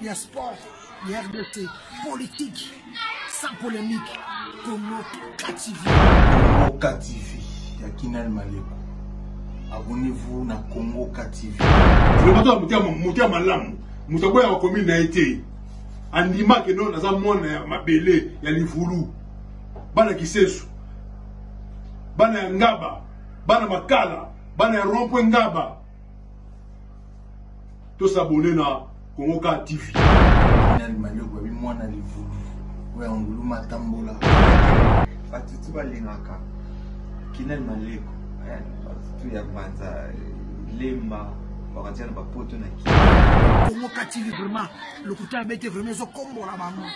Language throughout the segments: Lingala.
ya sport ya rdc politique sans polémique konoka tv konoka tv ya kinal maleko abonnez-vous na congo ktv moto ya malamu moto aboyaka komi na ye te andimaki no naza mwana ya mabele ya livulu bana kisesu bana ya ngaba bana makala bana ya rompwe ngaba To s'abonner na Congo Car TV. Nani manioko babi mwana livubu oya ngulu matambola. Bato tu balingaka kinani maleko eh, bato tu ya banza lemba bakatiana bapoto na kii. Congo Car TV vraiment lokuta abete vraiment ezokombola bango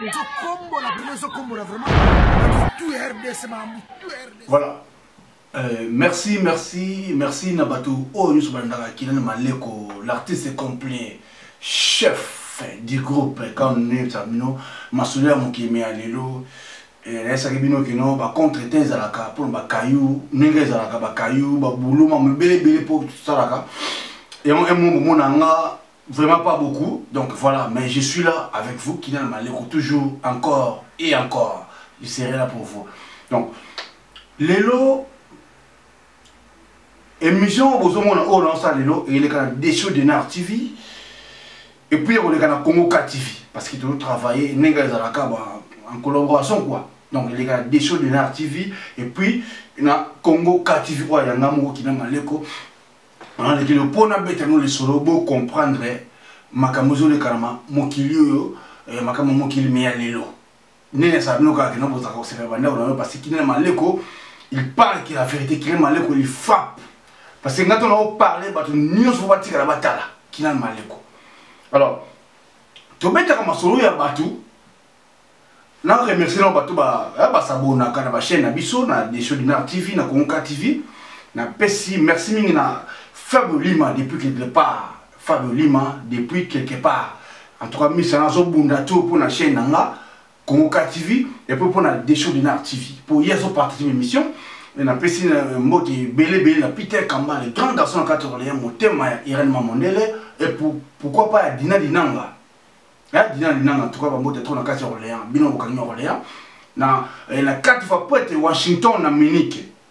ezokombola vraiment ezokombola vraiment bato tu ya RDC makambo tu ya RDC. Voilà. Euh, merci, merci, merci na bato oyo nyonso balandaka Kinan Maleko, l'artiste complet, chef du groupe quand nde bino masolo ya mokeme ya lelo nayesaki bino kino bacontre te ezalaka mpona bakayu ndenge ezalaka bakayu babulo mamo ebeleebele mpo tosalaka yango emo bomona nga vraiment pas beaucoup donc voilà mais je suis là avec vous kinana maleko toujours encore et encore je serai là pour vous donc lelo émission oyo bozomona oyo naosa lelo eyeleka na desho denar tv epuis ekoleka na congo ka tv parce que tozotravaille ndenge ezalaka en collaboration quoi donc eleka na desho denar tv epuis na congo ka tv oyo yanga moko kina maleko nalekele mpo nabeta no lisolo bocomprendre makambo ezolekana mokili oyo eh, makambo mokili me ya lelo nene asala bino kaka kino bozalaka kosepela bandako na yo parce que kinene maleko il parle que la vérité kinene maleko il frappe parce que ngai to nao parle bato nyonso batikala batala kinene maleko alors tobetaka masolo ya bato na remercie nao bato basabonaka eh, na bachaîne na biso na desho dinar tv na kongoka tv napesi merci mingi na faible lima depuis que départ Fabio Lima depuis quelque part en tout cas misa nazo bunda to pona chaîne na nga Congo TV et puis pona Desho Dinar TV pour yezo partager l'émission et na pesi euh, mbote belé belé na Peter Kamba le grand garçon na kato Orléans motema ya Irène Mamondele et pour pourquoi pas Dina Dinanga ya Dina Dinanga en tout cas ba mbote trop na kato Orléans bino bokangi Orléans na eh, na quatre fois prête Washington na Munich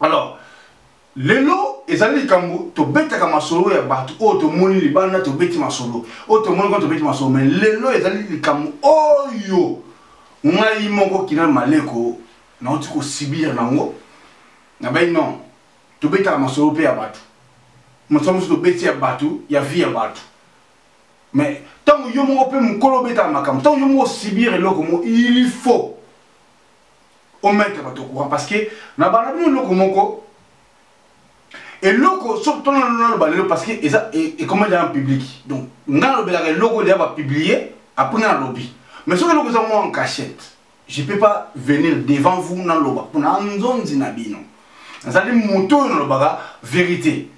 alors lelo ezali likambo tobetaka masolo ya bato oyo tomoni libanda tobeti masolo oyo tomoni kaka tobeti masolo mai lelo ezali likambo oyo ngai moko kina maleko nauti kosibir nango nabai non tobetaka masolo mpe ya bato masolo mosusu tobeti ya bato ya vie ya bato mais ntango yo moko mpe mokolo obetaka makambo ntango yo moko osibir eloko mo il faut o mettre bato courant parce que na bana bino eloko moko eloko soki tona naloba lelo parce que eza ekoma eza na public donc nga nalobelaka eloko deya bapublie apres nga nalobi mais soki eloko eza mwa en cachette je peux pas venir devant vous naloba mpona nzonzi na bino nazali moto oyo nalobaka verité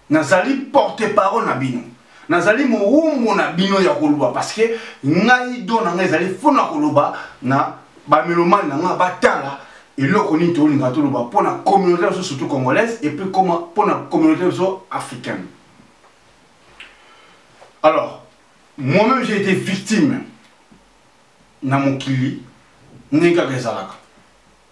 nazali porte parole na bino nazali mowumbu na bino ya koloba parce que ngai do na ngai ezali mpo na koloba na bamelomani na ngai batala eloko nini tolinga toloba mpo na communauté biso surtout congolaise et puis koma mpo na communauté biso africaine alors moi-même j'ai été victime na mokili ndenge kaka ezalaka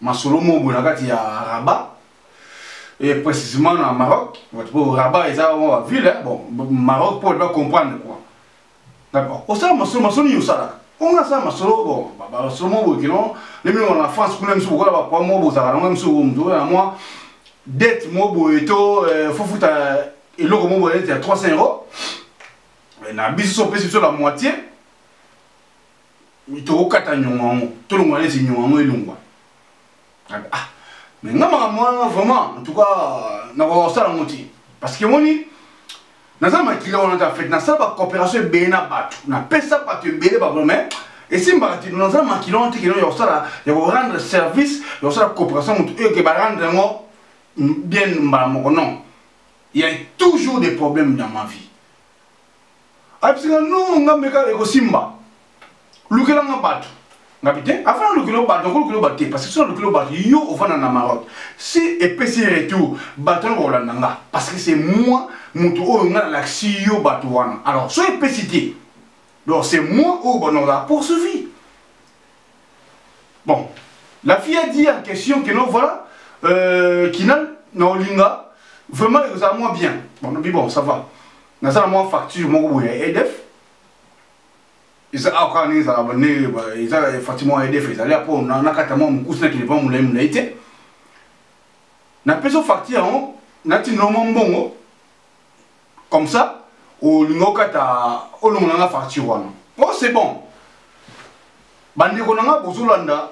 masolo moko boye na kati ya rabat et précisément na maroc po rabat eza mwa baville bon maroc mpo ba comprendre quoi d'accord osala masolo masolo nini osalaka onga asala masolo bon masolo moko boye kelon ndenge moko na france kuna misu bokola bapwa moko bozalaka nango misu moto na mwa dette moko boye to euh, fofuta eloko moko boye neti ya 300 euro na biso so opesi biso la moitié tokokata nyongo yango tolongwa neti nyongo yango elongwa ah mais nga makambo wana vraiment en tout cas nakoka kosala yango te parce que moni naza makila wana te en fait nasala bacoopération ebele na bato napesa bato ebele bablo mais esimbaka te naza makila wana te kino ya kosala ya korendre service ya kosala coopération motu oyo ke barendre yango bien mbala moko non il y a toujours des problèmes dans ma vie abisinga no nga meka ekosimba lukela nga bato ngabi te afa nalukelo bato akolukelo bato te parce que so nalukelo bato yo ofanda na maroc si epesi retour bato wana bakolanda nga parce que c'est moi moto oyo nga nalakisi yo bato wana alors so epesi te donc c'est moi oyo banozala poursuivi bon la fille a dit en question que non voilà euh, kinal na olinga vraiment ekozala mwa bien bon nabi bon ça va naza na mwa facture moko boye ya edf eza awa kaka ndenge ezalaka ndenge eza facture moko ya edf ezali apo nakata mwa mokusi na kende mpa molai molai te napesa facture yango natindela mwa mbongo comme ça olinga okata olongola nga facture wana o oh, c'est bon bandeko na nga bozolanda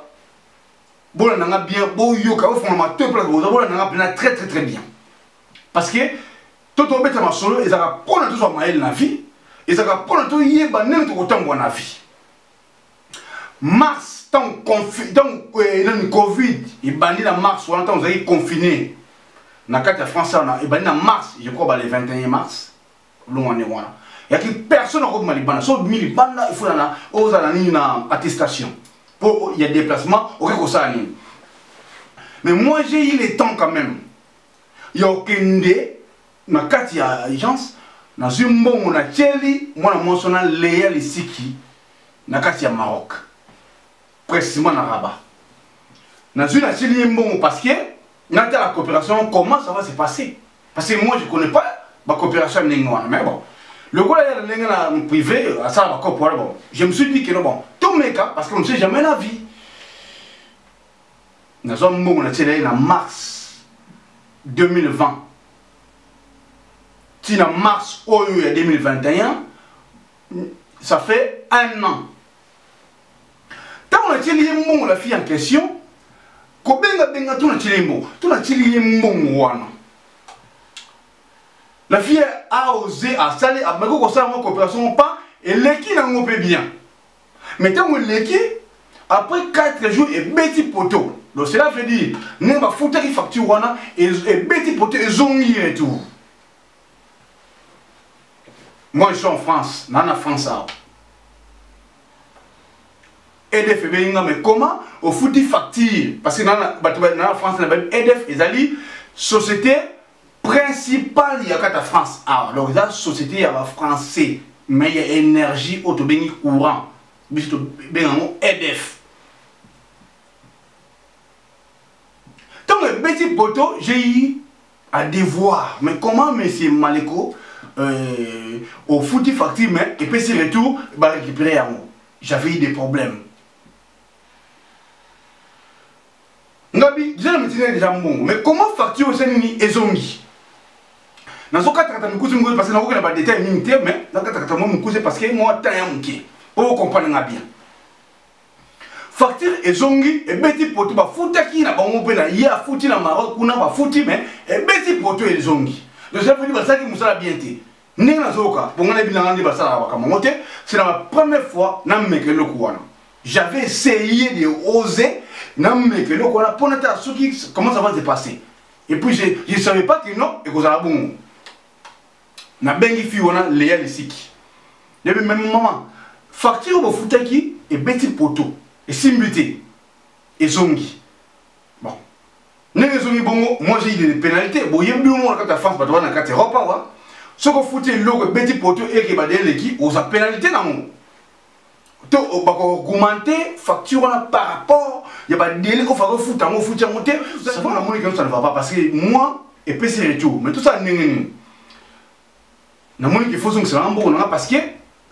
bolanda nga bien boyoka bofonga matoyi place boza bolanda nga mpena très très très bien parce que to tobeta masolo ezalaka mpo na tozwa mayele na vie ezalaka mpo na toyeba ndenge tokotambwa na vie mars ntango eh, nani covid ebandi na mars wana ntango ozalaki confine na kati ya france wana ebandi na mars je crois bale 21 mars olongo ndenge wana yaki personne akobima libanda so obimi libanda ifo na ozala nini na attestation mpo ya déplacement okoki kosala nini mais moi j'ai eu le temps quand même ya okende na kati ya agence nazwi mbongo natyeli mwana mwasi wana leya lisiki na kati ya maroc presima na raba nazwi natyeli ye mbongo parce que natala coopération comment ça va se passer parce que moi je connais pas bacoopération ya ndenge wana mais bon lokola yala ndenge na privé asala bacope wana bon je me suis dit que no bon tomeka parce que on ne sait jamais la vie nazwa mbongo natyela ye na mars 2020 ti na mars oyo ya 2021 ça fait un an ntango natyeli ye mbongo la fille en question kobengabenga to natyeli ye mbongo to natyeli ye mbongo wana la fille a osé asali abaki kosala yango coopération moko pa eleki nango mpe bien mais ntango eleki après 4 jours ebeti poto donc cela veut dire ndenge bafutaki facture wana ebeti poto ezongi retour moi je suis en france naa na france awa edf ebengi nga mais comment ofuti facture parce que bato na france na bayebi edf ezali société principal ya kata france awa ah, donc eza société ya bafrançais mais ya énergie oyo tobengi courant biso tobenga yango edf ntango ebeti poto jei à devoir mais comment monsieur maleko euh, ofuti facture mais epesi retour barécupéré yango j'avais eu des problèmes ngabi deja na mitindi deja mbongo mais comment facture eza nini ezongi nazokatakata mikuzi mikuzi parce que nakokenda badetail mingi te mais nakatakata mwa mikuzi parce que mwa temps ya moke oyo comprendre nga bien facture ezongi ebeti poto bafutaki na bango mpe na ye afuti na maroc kuna bafuti mais ebeti poto ezongi donc ça veut dire basalaki mosala bien te ndenge nazoyoka bongo nayebi nanga nde basalaka makambo yango te c'est na première fois nameka eloko wana j'avais essayé de oser nameka eloko wana mpo nata soki comment ça va se passer et puis je, je savais pas que non ekozala bongo nabengi fille wana leya lisiki yebi meme mama facture oyo bofutaki ebeti poto esimbi te ezongi ndenge ezongi bongo moi j'ai de pénalité boyebi bino moko na kati ya france bato wana na kati europe awa soki ofuti eloko ebeti poto ekeba de eleki oza pénalité nango to bakoaugmente facture wana par rapport ya badele ofaka ofuta yango ofuti yango te namoni keno ça ne va pas parce que moi epesi retour mais tosala ndenge nini Na moni qu'il faut zongisa na mboko na nga parce que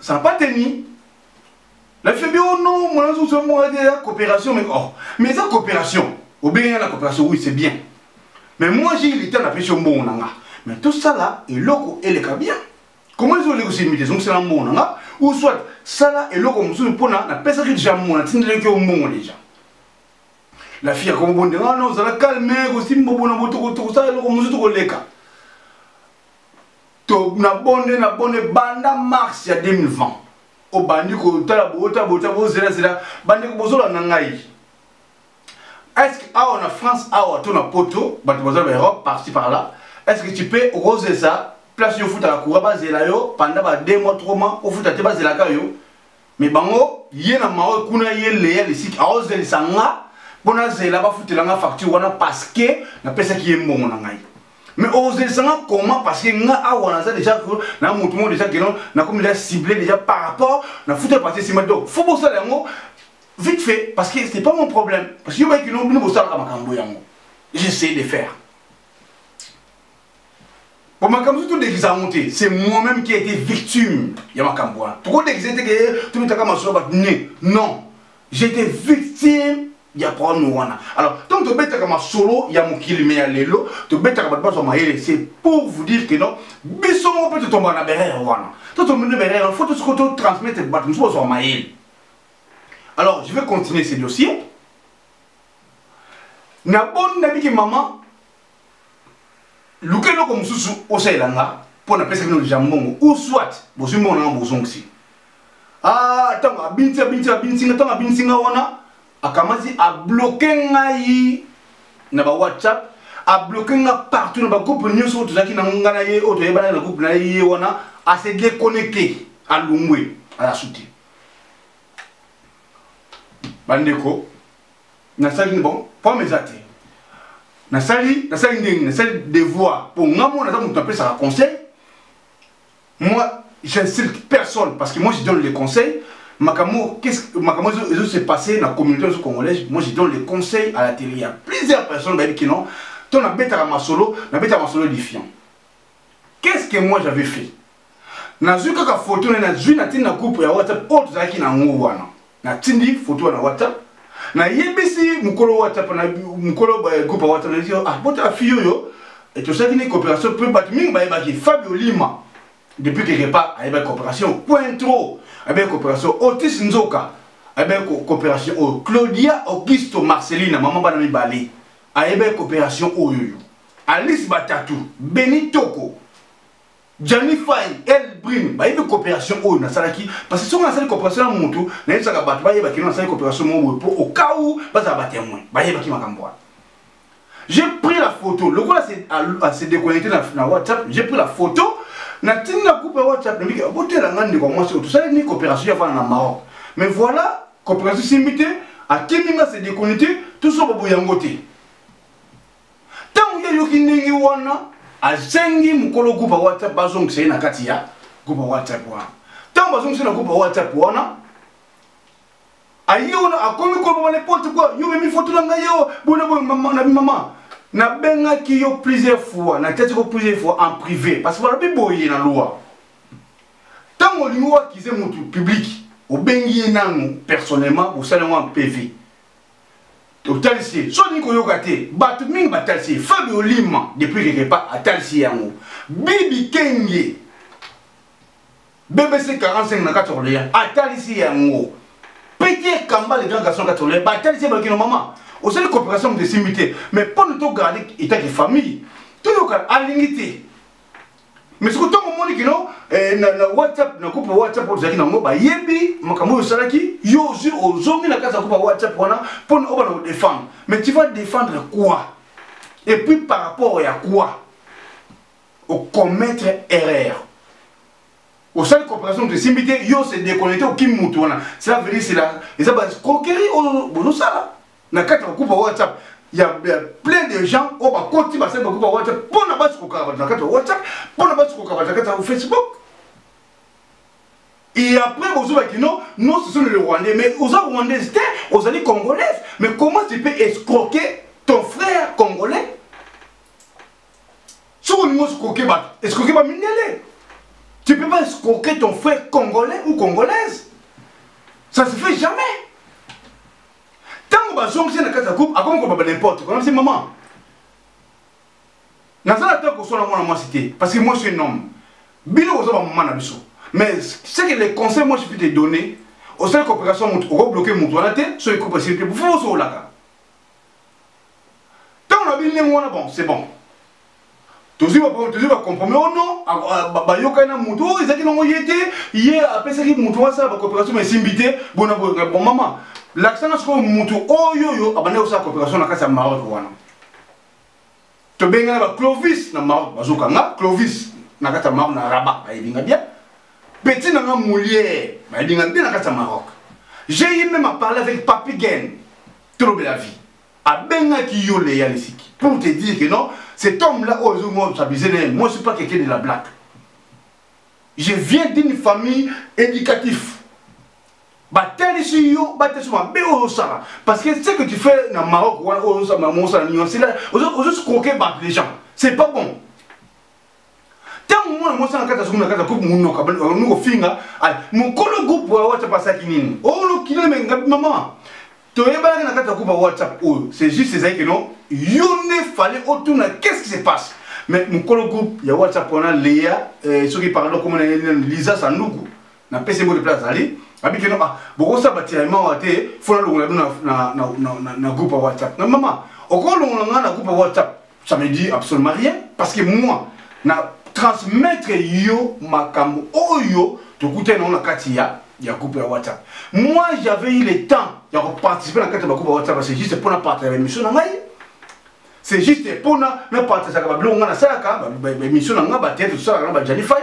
ça n'a pas tenu. Na fille bi oh non, mwana zongisa mboko na nga coopération mais oh, mais eza coopération. Obengi nga na coopération, oui c'est bien. Mais moi j'ai eu le temps na pesi yo mbongo na nga. Mais tout ça là, eloko eleka bien. Comment ils ont les aussi mis zongisa na mbongo na nga ou soit sala eloko mosusu mpo na napesaki deja mbongo natindelaki yo mbongo deja la fille akomobonde wana ozala calme kosimba bona botokosala eloko mosusu tokoleka to na bonde na bonde banda mars ya 2020 obandi kotala bota bota bozelazela bandeko bozolanda ngai est ce que awa na france awa to na poto bato baza na europe parti par là est ce que tu peux okozesa place yo ofutaka coura bazela yo panda ba 2 mois 3 mois ofuta te bazelaka yo me bango ye na mawe kuna ye leya lisiki aozelisa nga mpo nazela bafutela nga facture wana parceke napesaki ye mbongo na ngai me ozelisa nga koma parceke nga awa naza deja na motu moko deja keno nakomi deja cible deja par rapport na futa ya partie nsima donc fo bosala yango vite fait parce que c'est pas mon problème parce que yo bayekino bino bosalaka makambo yango j'essaye de faire po makambo so todekisa yango te c'est moi-même qui a été victime ya makambo wana tokodekisa te ke tobetaka masolo bato ne non j'ai été victime ya problème wana alors ntango tobetaka masolo ya mokili me ya lelo tobetaka bato bazwa mayele c'est pour vous dire que non biso moko mpe totombaka na berere wana to tombi na berere wana fo tosiko totransmettre bato mosusu bazwa mayele alors je vais continuer ce dossier naboni nabiki mama luka eloko mosusu osalela nga mpo napesaki no lija mbongo ou soit bozwi mbongo nanga bozongisi ntango ah, abinisi abinisi abinisi nga ntango abinisi nga wana akamati abloke ngai na ba whatsapp abloke nga partout na bagroupe nyonso oyo tozalaki na nga na ye oyo toyebanaki na groupe na ye ye wana ase déconnecte alungwe alasuti bandeko nasali nini bon pomme eza te nasali nasali ndenge nasali devoir mpo nga mona aza moto apesaka conseil moi j'insulte personne parce que moi je donne les conseils makambo makambo ezo se passer na communauté ozo congolaise moi je donne les conseils à la télé ya plusieurs personnes bayebi kino to nabetaka masolo nabetaka masolo edifiant qu'est-ce que moi j'avais fait nazwi kaka foto na nazwi natindi na groupe ya whatsapp oyo tozalaki na yango wana natindi foto wana whatsapp nayebisi mokolo whatsapp na mokolo groupe ya whatsapp nayebisi ah botala fille oyo eh, tosalaki ne coopération mpe bato mingi bayebaki fabio lima depuis quelque part ayebaki coopération quintro ayebaki coopération otis nzoka ayebaki coopération oyo oh, claudia augusto marcelina mama bana mibale ayebe coopération oyoyo alice batatu beni toko jani fai elbrine bayebi coopération oyo nasalaki parce que soki nasali coopération ya motu nayebisaka bato bayeba kino nasali coopération moko boye mpo okau bazala batemoin bayebaki makambo wana j'ai pris la photo lokola se déconnecte na whatsapp j'ai pris la photo natindi na groupe ya whatsapp nabiki botela ngai ndeko ya mwasi oyo tosali ni coopération ya fana na maroc mais voilà coopération esimbi te akimi nga se dekoni te tozoba boye yango te ntango ye ayoki ndenge wana asengi mokolo groupe whatsapp bazongisa ye na kati ya groupe whatsapp wana ntango bazongisa na groupe whatsapp wana aye wana akomi kolobama n'importe quoi yo memi foto na ngai yo bona boye na bimama nabengaki yo plusieurs fois natyaki ko plusieurs fois en privé parce que balobi boye na loi ntango olingi oakize motu public obengi ye nanu personnellement bosali yango en pv otalisi ye so olingi koyoka te bato mingi batalisi ye fabi olima depuis quelque part atalisi yango bibi kenge bbc 45 na kati orléans atalisi yango peter kamba le grand garçon kati orléans batalisi ye balokino mama osali coopération moto esimbi te mais mpo na togarde etaki famille toyoka alingi te mais soki ntango omoni kino eh, na, na whatsapp na groupe whatsapp oyo tozalaki nango bayebi makambo oyo osalaki yo ozwi ozongi na kati ya groupe ya whatsapp wana mpo na obana kodefendre mais tu vas défendre quoi et puis par rapport ya quoi ocommettre erreur osali coopération moto esimbi te yo se déconnecte okimi motu wana cela veut dire cela eza ba croquerie oyo bozosala na kati ya groupe ya whatsapp ya plein de gens oyo bakoti basali bagroupe ya whatsapp mpo na basi kokaka bato na kati ya whatsapp mpo na basi kokaka bato na kati ya facebook et après bozoba kino non ce sont les rwandais mais oza rwandaise te ozali congolaise mais comment tu peux escroquer ton frère congolais soki olingi oscroke bato escroke bamindele tu peux pas escroquer ton frère congolais ou congolaise ça se fait jamais ntango bazongisi na kati ya groupe akomi kobaba n'importe kona bisi maman naza na ntango koswana mwana mwasi te parce que moi je suis un homme bino boza bamama na biso mais ce que les conseils moi je peux te donner osali coopération motu okobloke motu wana te soki coupe esili te bofo osokolaka ntango na bino ndenge wana bon c'est bon tozwi bacompromis o non bayokani na motu oyo ezalaki nango ye te ye apesaki motu asala bacoopération ma esimbi te bona boyoka bon mama lakisanga sikoyo motu oyo oyo abandaki kosala coopération na kati ya maroc wana tobengana baclovis na maroc bazokanga clovis na kati ya maroc na rabat bayebinga bien petit nanga moliere bayebinga bien na kati ya maroc j'ai eu même à parler avec papi gen tolobela vie abengaki yo leya lisiki pour te dire que non cet homme là oyo ezongi obsabise na ye moi suis pas quelqu'un de la blaque je viens d'une famille éducative batalisi yo batalisi mabe oyo osala parce que ce que tu fais na maroc wana oyo osala nini osala ozosi croke bato les gens c'est pas bon ntango mwana mwasi na kati asoki na kati ya kupe monoka bani kofinga mokolo groupe ya whatsapp asaki nini olokilo oh, mengabi mama toyebanaki na kati ya kupe ya whatsapp oyo oh, c'est juste ezali keno yo nde fale otuna qu'est ce qui se passe mais mokolo groupe ya whatsapp wana leya eh, soki parado komona ye liza sanduku na pese mbote place azali abi keno ah bokosala batira mawa te fona longola bino na, na, na, na, na groupe ya whatsapp na mama okolongola ngai na groupe ya whatsapp ça me dit absolument rien parce que moi na transmettre yo makambo oyo tokutani nango na kati ya ya groupe ya whatsapp moi j'avais eu le temps ya koparticipe na kati ya bagroupe ya whatsapp c'est juste mpona partage ya émission na ngai c'est juste mpona napartageaka babiloko ngai nasalaka baémission na ngai bateatre tosalaka na bajanifai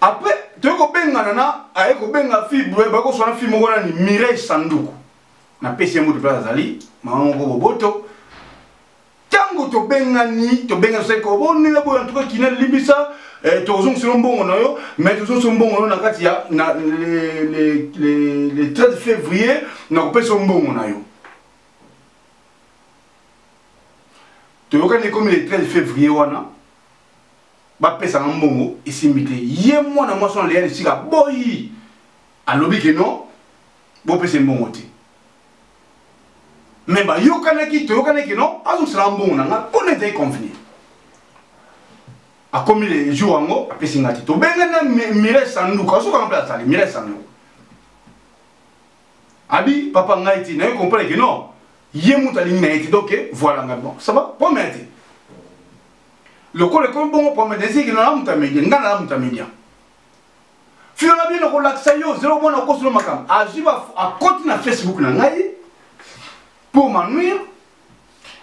après toye kobengana na aye kobenga fi bakoswana fi moko nani mireille sanduku napesi ye moto place azali mama moko boboto ntango tobengani tobengani seke obonela boyo antuka kina limbisa eh, tozongiselo mbongo na yo mais tozongiselo mbongo na yo na kati ya na le 13 février nakopesa mbongo na yo toyokani ekomi le 13 février wana bapesa nga mbongo esimbi te ye mwana mwasi wana leya lisika boyi alobi ke non bopesa mbongo te me bayokanaki toyokanaki non azongisela mbongo na nga mpo na ezali convenir akomi le jour yango apesi nga te tobengani na mire sanduka soki anga mpe azali mire sanduka abi papa ngai te naye comprendre ke non ye moto alingi na ye te donc voilà ngai bon ça va pomea te lokola ekomi bongo pome desiki na moto ya media ngai na moto ya media filo na bino kolakisa yo ozeli omona okosolo makambo azwi akoti na facebook na ngai pour manuire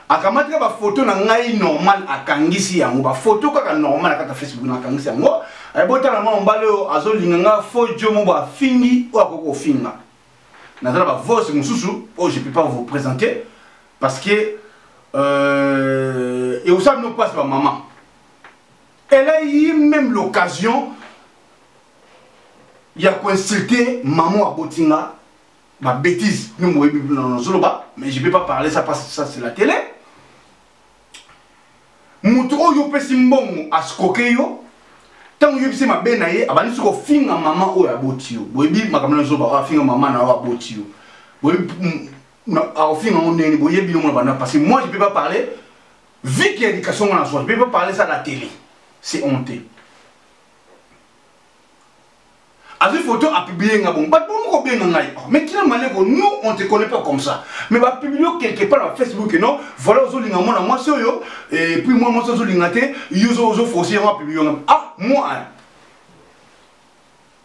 akamati kaka bafoto na ngai normal akangisi yango bafoto kaka normal akata facebook na akangisi yango ebotala eh, mwa mobali oyo azolinga nga fo jo mobo afingi oyo akoki kofinga naza na bavose mosusu oyo je peux pas vous présenter parce que euh, et ça nous passe par maman elle a eu même l'occasion il y a consulté maman à Botinga ma bêtise nous moi mais je vais pas parler ça parce que ça c'est la télé mutu oyo opesi mbongo asikoke yo ntango oyebisi mabe na ye abandi soki ofinga mama oyo aboti yo boyebi makambo na zoba oyo afinga mama na oyo aboti yo boyebi akofinga ngo ndenge boye bino mona banda parce que moi je peux pas parler vu que éducation ngana soit je peux pas parler ça à la télé c'est honté azwi photo apiblie nga bongo bato bongo kobenga ngai oh, mais kina maleko nous on te connaît pas comme ça mais bapiblie yo quelque part na facebook non voilà ozolinga mwana mwasi oyo et puis mwana mwasi ozolinga te yo ozofosi yango apiblie yo nga ah moi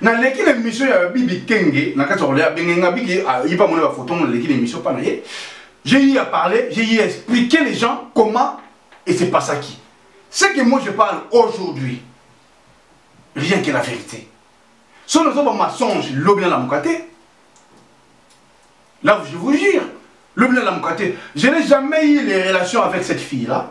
naleki na émission ya bibi kenge na kati ya kolia benge nga biki ayipa ah, mona ba photo mona leki na émission pa na ye j'ai eu à parler j'ai eu à expliquer les gens comment et c'est pas ça qui ce que moi je parle aujourd'hui rien que la vérité so nazo ba mensonge lobi na lamuka te là je vous jure lobi na lamuka te je n'ai jamais eu les relations avec cette fille là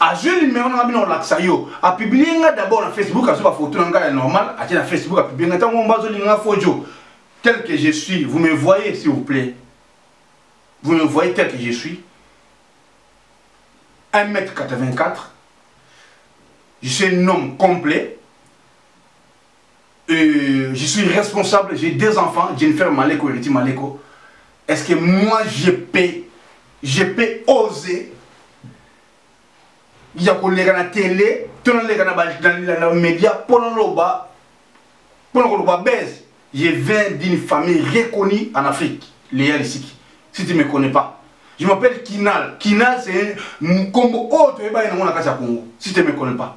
azwi numero na nga bino olakisa yo apiblie nga d'abord na facebook azwi bafoto na ngai ya normal atie na facebook apiblie nga ntango mba azolinga nga fojo tel que je suis vous me voyez s'il vous plaît vous me voyez tel que je suis 1 m 84 je suis un homme complet Euh, je suis responsable, j'ai deux enfants, Jennifer Maleko et Riti Maleko. Est-ce que moi je peux, je peux oser ya koleka na tele to naleka na média mpo naloba mpo na koloba base je viens d'une famille reconnue en afrique leya lisiki si tu me connais pas je m'appelle kinal kinal c'est nkombo oyo toyebani nango na kati ya congo si tu me connais pas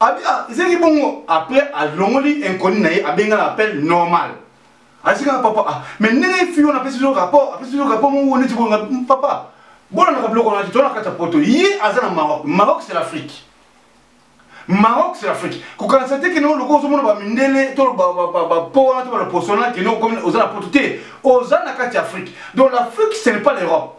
abi ah, ezalaki bongo après alongoli inconnu na ye abenga na appel normal asika na papa ah, mais ndenge fi wana apesi biso rapport apesi biso rapport moko neti bolinga hmm, papa bolandaka biloko wana te tona kati ya poto ye aza na maroc maroc c'est l'afrique maroc c'est l'afrique kokanisa te kende oloko ozomona bamindele to bapo wana to baloposona kende oza na poto te oza na kati ya afrique donc l'afrique ce n'est pas l'europe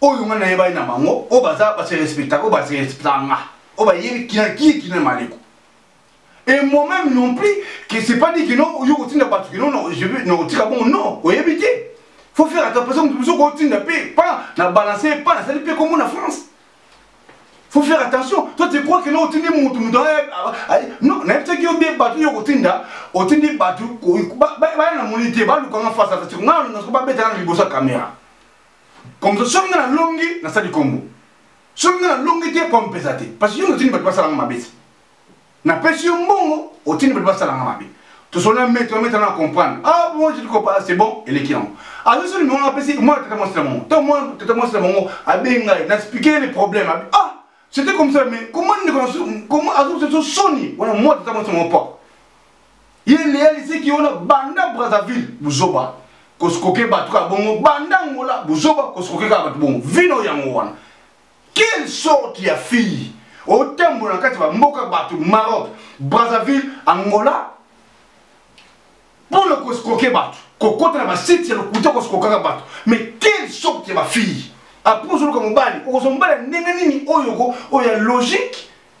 oyo nga nayebani na bango oyo baza base respectaka oyo base respectaka nga oyo bayebi kiakiki na maleko et moi même non plus que c'est pas dit que non yo kotinda bato que non non je veux non tika bongo non oyebi te faut faire attention moto mosusu kotinda mpe pa na balanse pa nasali mpe kombo na france faut faire attention toi tu crois que non otindi moto moto non nayebisaki yo bie bato yo kotinda otindi bato baya na moni te balukanga face à face nga babetanga na liboso ya caméra comme ça soki nga na longi na sali kombo soki nga na longi te po mpeza te parce que yo otindi bato basala nga mabe napesi yo mbongo otindi bato basala nga mabe tosolola mete ometa na comprendre ah bon je diko pas c'est bon eleki yango azo soni mongo apesi mwana tata mwasi na mongo to mwana tata mwasi na mongo abengi ngai na expliquer les problèmes ah c'était comme ça mais comment ndeko comment azo soni wana mwana tata mwasi na mongo propre ye leya liseki wana banda brazzaville buzoba koskoke bato kaka bongo banda ngola buzoba koskoke kaka bato bongo vino yango wana quelle sorte ya fille otambola na kati ya bamboka bato maroc brazzaville angola mpo na koskoke bato kokota na basite ya lokuta koskokaka bato mais quelle sorte ya bafille apres ozoluka mobali okozwa mobali ya ndenge nini oyo oyo ya logique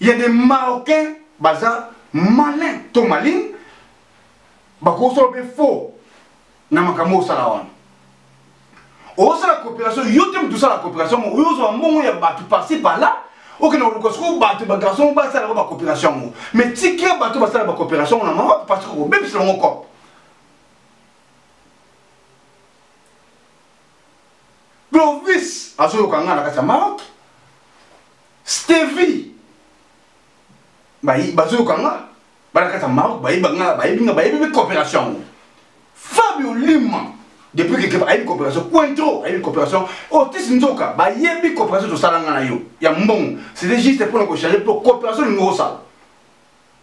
Il y a des Marocains baza malin to malin bakosala mpe faux na makambo osala wana osala coopération yo te moto osala coopération mo oyo ozwa mbongo ya bato parci parla okende koluka soko bato bagarçon ngo basala yango bacoopération yango mais tika bato basala bacoopération ngo na mawa parce que kobebisa yango cope Clovis azoyoka ngai na kati ya Maroc. Stevie bazoyoka nga bana kati ya Maroc bayebi nga bayebi nga bayebi mpe coopération yango. Fabio Lima depuis que keba ayebi coopération Cointreau ayebi coopération Otis Nzoka bayebi coopération tosala nga na yo ya mbongo. C'était juste mpo na kochanger mpo coopération lingi osala.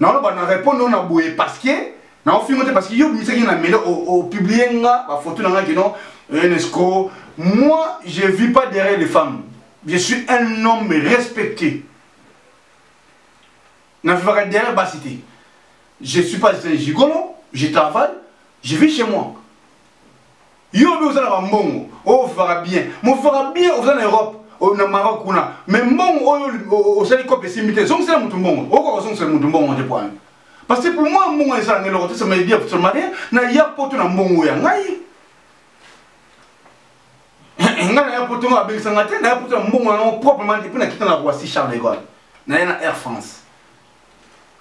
naoloba na répondre na boye parce que naofingo te parce que yo obimisaki na mele opublie nga bafoto na nga kino unesco moi je vis pas derrière les femmes je suis un homme respecté navivaka derrière basi te je suis pas un gigolo je travaille je vis chez moi yo mpe oza na bambongo ovivaka oh, bien movivaka bien oza na europe oh, na maroc kuna mais mbongo oyo oh, osali kope esimbi te zongisela motu mbongo okoka kozongisela motu mbongo te poani parce que pour moi mbongo ezala ngai eloko te samaedia somalia na ya poto na mbongo ya ngai ngai na ya poto ngo abengisa ngai te na ya poto na mbongo yango proprement epuis nakita na roissy charles de gaulle naye na air france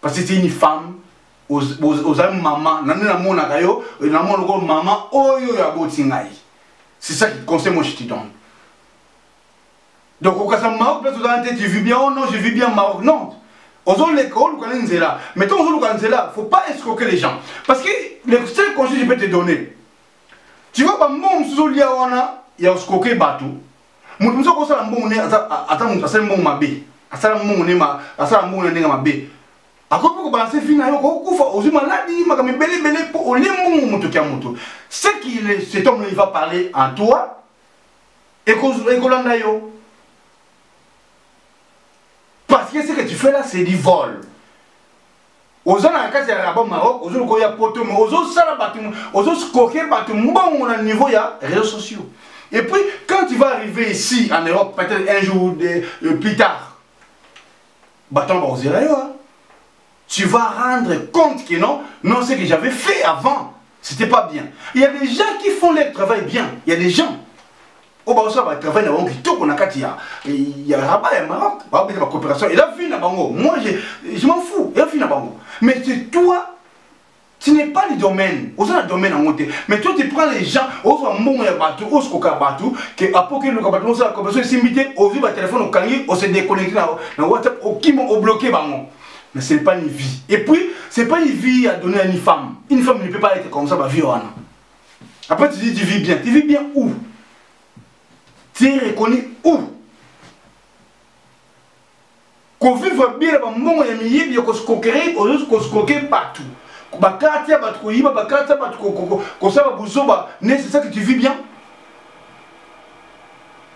parce que c'est une femme oza mama nani namonaka yo namona oko mama oyo ya boti ngai c'est ça qui conseil moi je te donne donc okasa maroc place oza nte tu vis bien oh non je vis bien maroc non ozoleka oluka ne nzela mais ntango ozoluka nzela faut pas escroquer les gens parce que le seul conseil je peux te donner tu vois bambongo mosusu olia wana ya oscroquer bato moto mosusu akosala mbongo ne ata moto asali mbongo mabe asala mbongo ne asala mbongo na ndenge mabe akoki mpe kobalanse vi na yo kokufa ozwi maladi makambo ebeleebele mpo olie mbongo moto kya moto ce qui cet homme il va parler en toi ekolanda yo parce que ce que tu fais là c'est du vol oza na kati ya rabat maroc ozo lokola ya poto mais ozosala bato ozoskoke bato mbongo na niveau ya réseaux sociaux et puis quand tu vas arriver ici en europe peut-être un jour ou deux, euh, plus tard bato yango bakozela yo tu vas rendre compte que non non ce que j'avais fait avant c'était pas bien il y a des gens qui font leur travail bien il y a des gens oyo bazosala batravail na bango kitoko na kati ya ya rabat ya maroc babeta bacoopération eza vie na bango moi je m'en fou eza vie na bango mais c'est toi tu n'es pas le domaine oza na domaine yango te mais toi tu prends les gens ozwa mbongo ya bato oskoka bato ke apoki eluka bato osala coopération esimbi te ozwi batelefone okangi ose déconnecte na whatsapp okima obloke bango mais ce n'est pas une vie et puis c'est pas une vie à donner à une femme une femme ne peut pas être comme ça bavie wana Après, tu dis, tu vis bien. Tu vis bien où Tu es reconnu où kovivre bien na bambongo ya miyibi ya koskokere ozozi koskoke bato bakati ya bato koyiba bakati ya bato kosala buzoba ne c'est ça que tu vis bien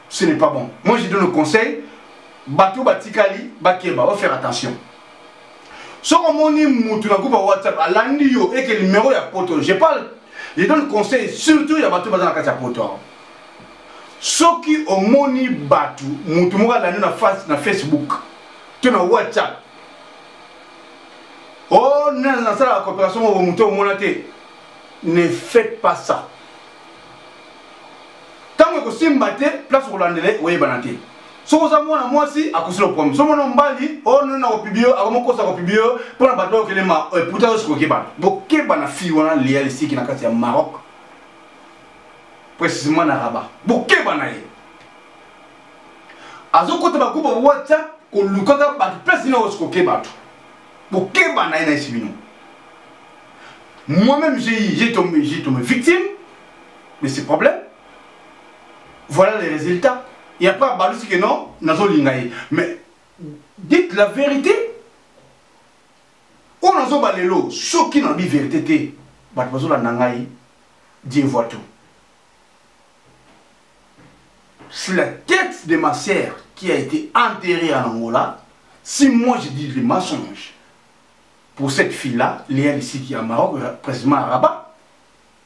ce n'est pas bon moi je donne le conseil bato batikali bakeba va faire attention soki omoni mutu na groupe ya whatsapp alandi yo eke numero ya poto je parle je donne conseil surtout ya bato baza na kati ya poto awa soki omoni bato mutu moko alandi na face na facebook to na whatsapp o oh, nasalaka coopération moko moto omona te ne faites pas ça ntango ekosimba te place okolandela oyebana te soki oza mwana mwasi akosi lo problème soki mwana mobali oyo nini na kopibi yo akomokosa kopibi yo mpo na bato bayokelema eputa eh, yo sikokebana bokeba na fille wana lia lisiki na kati ya maroc précisément na rabat bokeba na ye azokota bakuba whatsapp kolukaka bato place nini okoke bato bokeba na ye na esi bino moi-même j'ai tombé, tombé victime de ces problèmes voilà les résultats et après abalusi que non nazolinga ye mais dites la vérité oyo nazoba lelo soki nalobi vérité te bato bazolanda ngai dieu voit tout c'est la tête de ma sœur qui a été enterrée en Angola si moi je dis le mensonge pour cette fille là Léa Lissiki à Maroc précisément à Rabat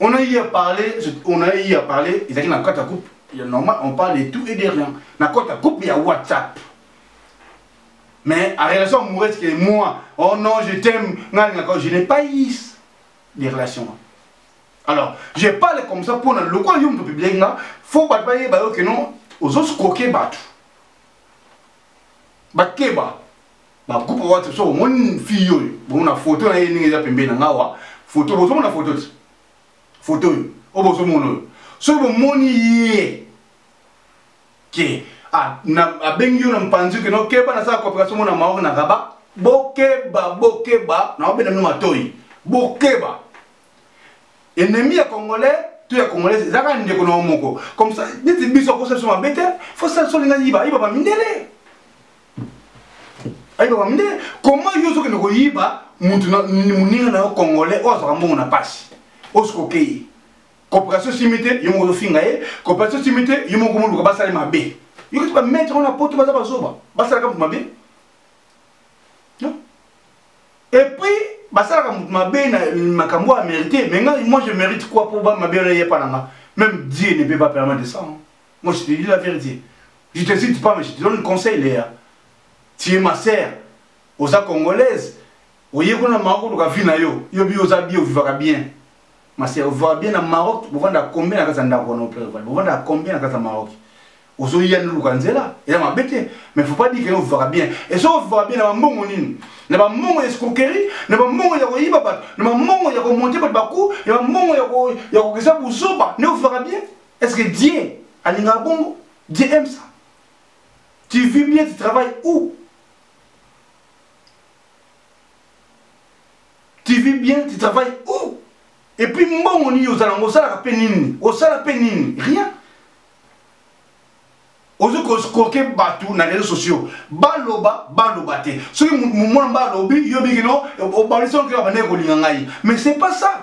on a eu à parler on a eu à parler ezalaki na kati ya coupe ya normal on parle de tout et de rien na kati ya coupe ya whatsapp mais en relation amoureuse que moi oh non je t'aime nga alingaka je n'ai pas eu des relations alors je parle comme ça mpona lokola yo moto publie nga fo bato bayeba yo ke non ozoscroke bato bakeba ba groupe whatsapp so omoni fille oyo bomona foto na ye ndenge eza pembeni na nga wa foto bozomona foto ti foto oyo oyo bozomona oyo soki bomoni ye ke abengi yo na mpanzi ke nokeba nasala coopération mona maor na raba bokeba bokeba na obenda bino matoi bokeba ennemi ya congolais to ya congolais ezalaka ndeko na yo moko comme ça neti biso akosala biso mabe te fo sala biso olinga yiba yiba bamindele ayeba bamde koma yo ozokende koyiba mutu moninga na yo congolais oyo azwaka mbongo na mpasi osikokei coopération simi te yo moko ozofinga ye coopération simi te yo moko moluka basala mabe yokoki bamaître wana poto baza bazoba basalaka moto mabe epuis basalaka moto mabe na makambo ya mérite mais ngai moi je mérite quoi mpo mabe wana eyepa na nga même dieu ne peut pas permettre ça Moi, je te dis la vérité. Je te cite pas, mais je te donne conseil, Léa. Tu es ma sœur. Oza congolaise. Oye kuna Maroc luka vie na yo. Yo bi oza bi ovivaka bien. Ma sœur, ovivaka bien na Maroc. Bovanda combien na kasa ndako na opere vale. Bovanda combien na kasa Maroc. Ozo ya ndu luka nzela. Eza mabe te. Mais faut pas dire que ovivaka bien. Et so ovivaka bien na ba mbongo nini? Na ba mbongo ya escroquerie, na ba mbongo ya koyiba bato, na ba mbongo ya komonte bato baku, na ba mbongo ya ko ya kokesa buzoba. Ne ovivaka bien? est ce que dieu alingaka bongo dieu aime ça tu vis bien tu travailles où tu vis bien tu travailles où et puis mbongo nini ozala ngo osalaka mpe nini osala mpe nini rien ozo koskoke bato na réseau sociaux baloba baloba te soki mwana mba alobi yo bikino obalisi okeba bandeke kolinga ngai mais c'est pas ça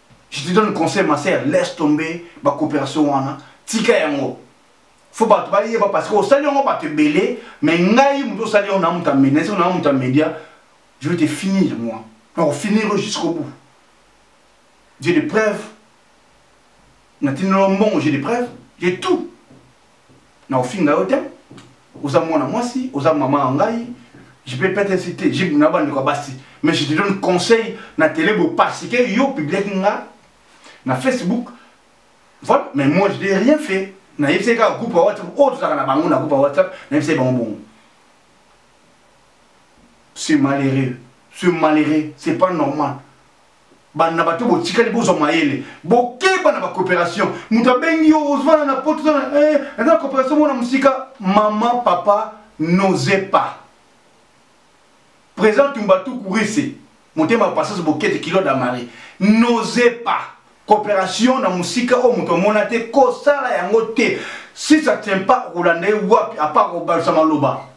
je te donne conseil ma sœur laisse tomber ba coopération wana tika yango fo bato bayeba parce que osali yango bato ebele mais ngai moto osali yango na moto ya media esiko na moto ya media je vais te finir moi nakofinir yo jusqu'au bout j'ai des preuves natinelo mbongo j'ai des preuves j'ai tout na kofinga yo te oza mwana mwasi oza mama ya ngai je peux peut-être citer je na bandeko ya basi mais je te donne conseil na tele bo parce que yo publiaki nga na facebook voilà mais moi je n'ai rien fait nayebisaki kaka groupe ya whatsapp oyo tozalaka na bango na groupe ya whatsapp nayebisaki bango bongo ce malheureux ce malheureux c'est pas normal bana na bato botikali bozwa mayele bokeba na bacoopération moto abengi yo ozwana na poto eza na eh, coopération mona mosika mama papa n'ose pas présent tumbatuku rise motema ya pasase bokete kilo damari n'ose pas coopération na mosika oyo moto amona te kosala yango te si ça tient pas kolanda ye wapi apart kobalisa maloba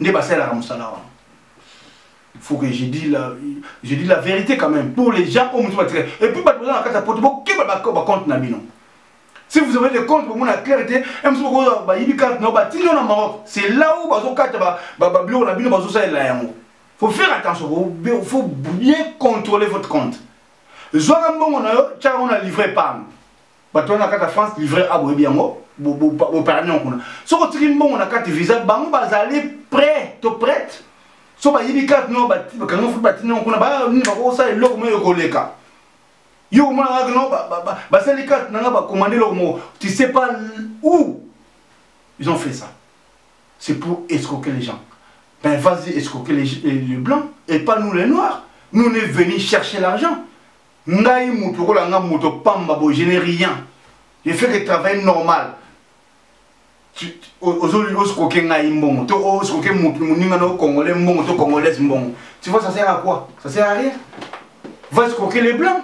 nde basalelaka mosala wana faut que je dis la, je dis la vérité quand même pour les gens oyo mosusu batika et puis bato baza na kati ya poto bokeba bacompte na bino si vous avez des comptes bomona claire te mso bokozwa bayibi carte nao batino na maroc c'est là où bazokata babiloko na bino bazosalela yango faut faire attention faut bien contrôler votre compte zwaka mbongo na yo tyaka ngo na livre épargne bato wana kata france livre a boyebi yango boparani yango kuna soki otiki mbongo na kati visa bango bazali prêt to prête so bayibi karte no bakanga futi batindi yango kuna banini bakosala eloko moyo ekoleka yo omona kaka no basali karte na nga bakomande eloko moko tu sais pas où ils ont fait ça c'est pour escroquer les gens ben vas-y escroquer les, les, les blancs et pas nous les noirs nous on est venus chercher l'argent ngai mutu lokola nga moto pamba bo je n'ai rien je fais que travail normal ozoli osikoke ngai mbongo to osikoke motu moninga na congolais mbongo to congolaise mbongo tu vois ça sert à quoi ça sert à rien va esikoke les blancs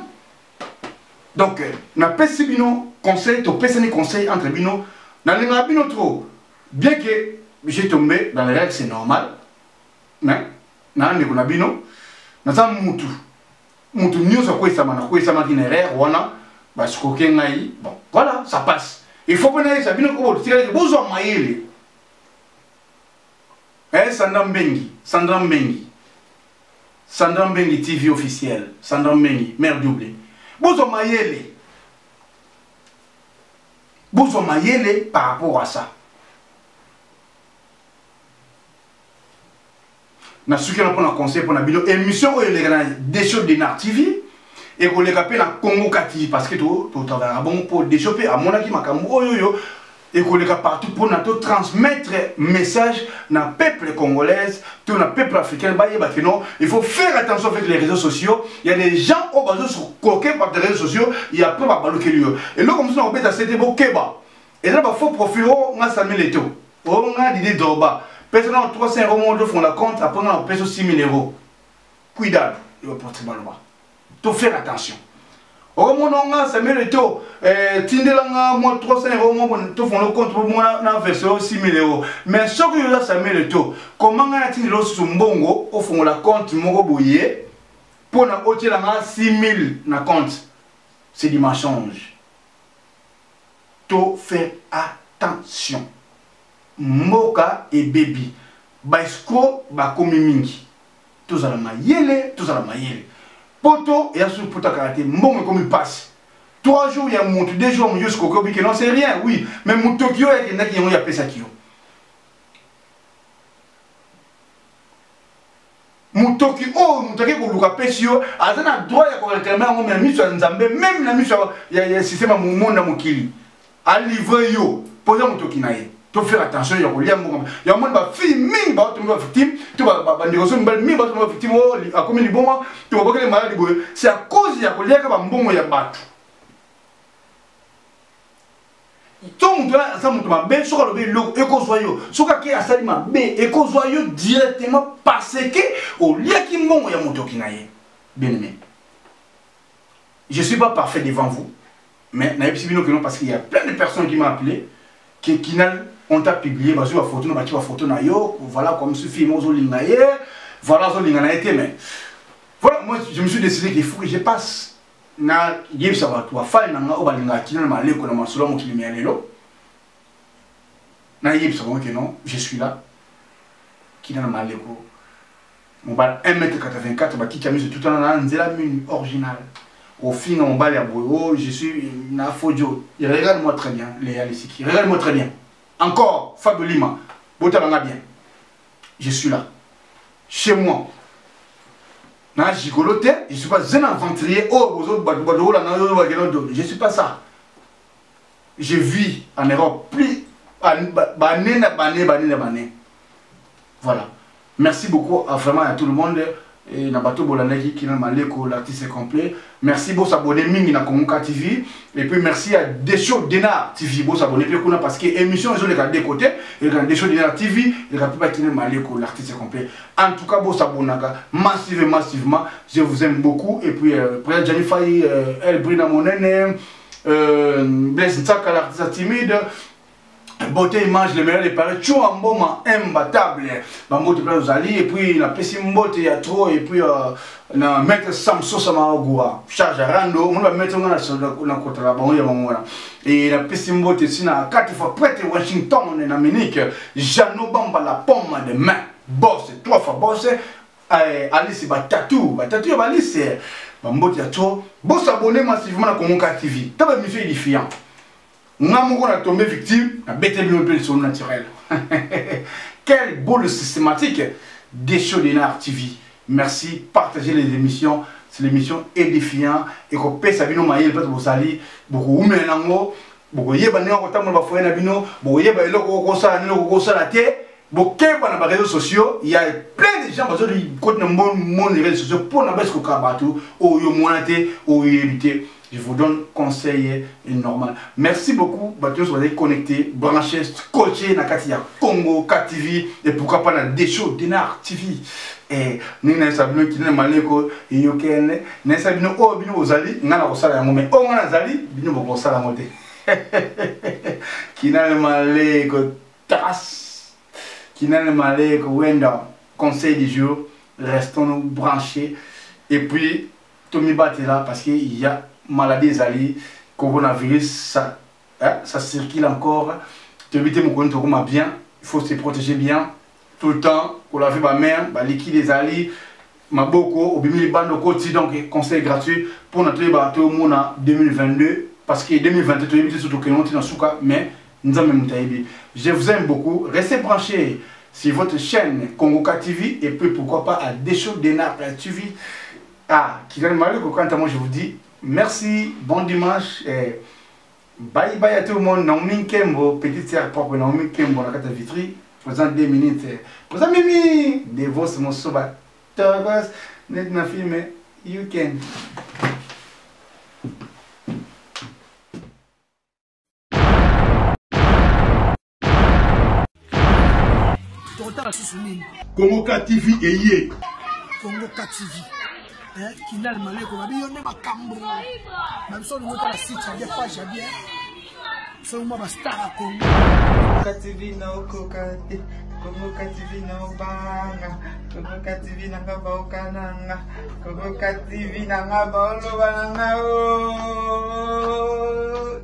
donc euh, napesi bino conseil topesani conseil entre bino nalingaka bino trop bien que j'ai tombé dans les règles c'est normal mais na ndeko na bino naza mutu moto nyonso akwesama nakwesamaki na erreur wana basikoke ngai bon voilà ça passe il faut mpona yesa bino kobotikalaki bozwa mayele eh, sandra mbengi sandra mbengi sandra mbengi tv officiel sandra mbengi mare double bozwa mayele bozwa mayele par rapport à ça nasuki wana mpo na conseil mpo na bino émission oyo eleka na desho denar tv ekoleka mpe na congo kati parce que totravaillaka to bongo mpo desho mpe amonaki makambo oyo oyo ekoleka partout mpo na totransmettre message na peuple congolaise to na peuple africain bayeba ke non il faut faire attention avec les réseaux sociaux il y a des gens oyo bazokoke par des réseaux sociaux ya mpe babalukeli yo eloko mosusu na kobeta sete bokeba eza ba faux profil o nga sami lete o o nga didi dorba pesa na 300 euro moko to fongola compte après nga na pesa 6000 euro cuidado yo ba porte baloba to faire attention okomona oh, nga sami lete o eh, tindela nga mwa 300 euro moko to fongola compte po mona na verse o 6000 euro mais soki yo oza sami lete o koma nga na tindela osusu mbongo ofongola compte moko boye mpo na otyela nga 6000 na compte c'est du mensonge to faire attention mboka ebebi ba escro bakomi mingi tozala mayele tozala mayele poto eya soki poto akala te mbongo ekomi mpasi 3 jours ya motu 2 jours moyosi kokobi ke non c'est rien oui mais motoki oyo akendaki yango yapesaki yo motoki oyo moto ake koluka apesi yo aza na droit ya koreklame yango na miso ya nzambe meme na miso ya systeme ya momoni na mokili alivre yo mpo oza motoki na ye to faire attention ya kolia mbongo ya moni ba fille mingi ba tombe ba victime to ba ba ndeko so mbali mingi ba tombe ba victime o oh, akomi liboma to ba bokele malade boye c'est à cause ya kolia ka ba mbongo ya batu to moto aza moto mabe soki alobi eloko ekozwa yo soki ake asali mabe ekozwa yo directement parce que oliaki mbongo ya motoki na ye bien aimé je suis pas parfait devant vous mais nayebisi bino kino parce qu'il y a plein de personnes qui m'a appelé que kinal on t'a publié bazwi bafoto na baki bafoto na yo voilà comme ce film ozolinga ye voilà ozolinga na ye te mais voilà moi je me suis décidé qu'il faut que je passe nayebisa bato bafani na ngai oyo balingaka kino na maleko na masolo ya mokili mya lelo nayebisa bango ke non je suis là kino na maleko mobali 1 mètre 84 bakiti ya miso tutana na nzela mini original ofinga mobali ya boye o oh, je suis na fodio regarde moi très bien leya lisiki regarde moi très bien encore fabio lima botala nga bien je suis là chez moi na gigolo te je suis pas un aventurier oyo oh, bozobadola na yo bakena dodo je suis pas ça je vis en europe plus bane na bane bane na bane voilà merci beaucoup à vraiment à tout le monde et na bato bolandaki kina maleko l'artiste complet merci bo s'abonner mingi na kongoka tv et puis merci à desho denar tv bo s'abonner pe kuna parce que émission ezo leka de côté et quand desho denar tv le kapi ba kina maleko l'artiste complet en tout cas bo s'abonnaka massive massivement je vous aime beaucoup et puis euh, Brian Janifai euh, El Brina Monene euh, Blaise Nsaka l'artiste timide beauté image le meilleur de paris tio amboma imbattable bambote mpe ozali epuis napesi mbote ya tro epuis euh, na maître samso samaogua charge arando omoni bamaître nga nakotala bango ya bango wana e napesi mbote si na kati fois prete washington na munich jeannot bamba la pomme de main bos trois fois bos eh, alice batatu batatu ya balise eh, bambote ya tro bosabone massivement na congo ka tv ta bamission edifiant nga moko na tombe victime na bete bino mpe lisolo naturel quelle boule systématique desho denar tv merci partagez les émissions c'est l'émission édifiant ekopesa bino mayele mpate bozali bokoumela nango bokoyeba ndenge kotambola bafoye na bino bokoyeba eloko okosala nini okokosala te bokeba na bareseau sociaux ya plein de gens bazokoti na monde reseau sociaux mpo na basi kokaa bato oyo omona te oyebi te je vous donne conseil normal merci beaucoup bato nyonso bazali connecté branché scotché na kati ya congo k tv et pourquoi pas na desho denar tv eh, ndenge nayesa bino kina na maleko eyokende nayesa bino oyo oh, bino bozali ngai nakosala yango mai oyo oh, ngai nazali bino bokosala yango te kina na maleko Tras Kinene Maleko Wenda conseil du jour restons nous branchés et puis tomibatela parce que il y a maladie ezali coronavirus ça, hein, ça circule encore toyebi te mokoni tokoma bien il faut se protéger bien tout le temps kolaver bamare baliki ezali maboko obimi libanda okoti donc conseil gratuit mpona toyeba toyomona 2022 parce que 2022 toyebi te so tokengo ntina suka mais nzambe moto ayebi je vous aime beaucoup restez branché sur votre chaîne congoka tv et puis pourquoi pas à desho denar tv ah kigali maleko quant à moi je vous dis merci bon dimanche et Bye bye à tout le monde, Naomi Nkembo, petite sœur propre Naomi Nkembo, la carte vitri, présent deux minutes, présent Mimi, Devos Mosoba, Togos, net na film, you can. tokotala susu nini kongo ka tv eye kongo ka tv eh, kindal maleko babi yo nde makambo na biso olingo tala site ya bien page ya bien soki mwa bastar ya kongo ka tv naokoka te kongo ka tv naobanga kongo ka tv nanga baoka nanga kongo ka tv nanga baoloba nanga o oh.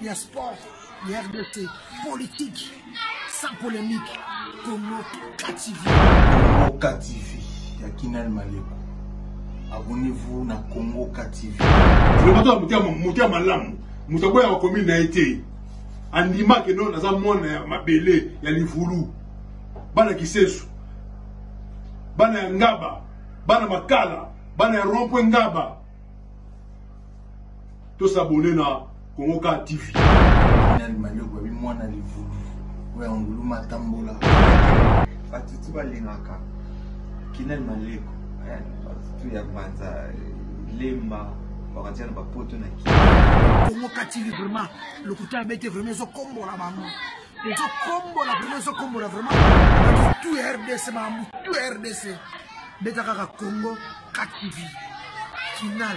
ya sport ya rdc politique sans polémique congo kativi congo kativi ya kinal maleko abonnez-vous na congo kativi moto ya malamu moto aboyaka komi na ye te andimaki no naza mwana ya mabele ya livulu bana kisesu bana ya ngaba bana makala bana ya rompwe ngaba To s'abonner na Congo Car TV. Nani manioc babi mwana livubi oya ngulu matambola. Bato tu balingaka kinani maleko eh, bato tu ya banza eh, lemba bakatiana bapoto na kii. Congo Car TV vraiment lokuta abete vraiment ezokombola bango ezokombola vraiment ezokombola vraiment bato tu ya rdc makambo tu ya rdc beta kaka Congo Car TV kinal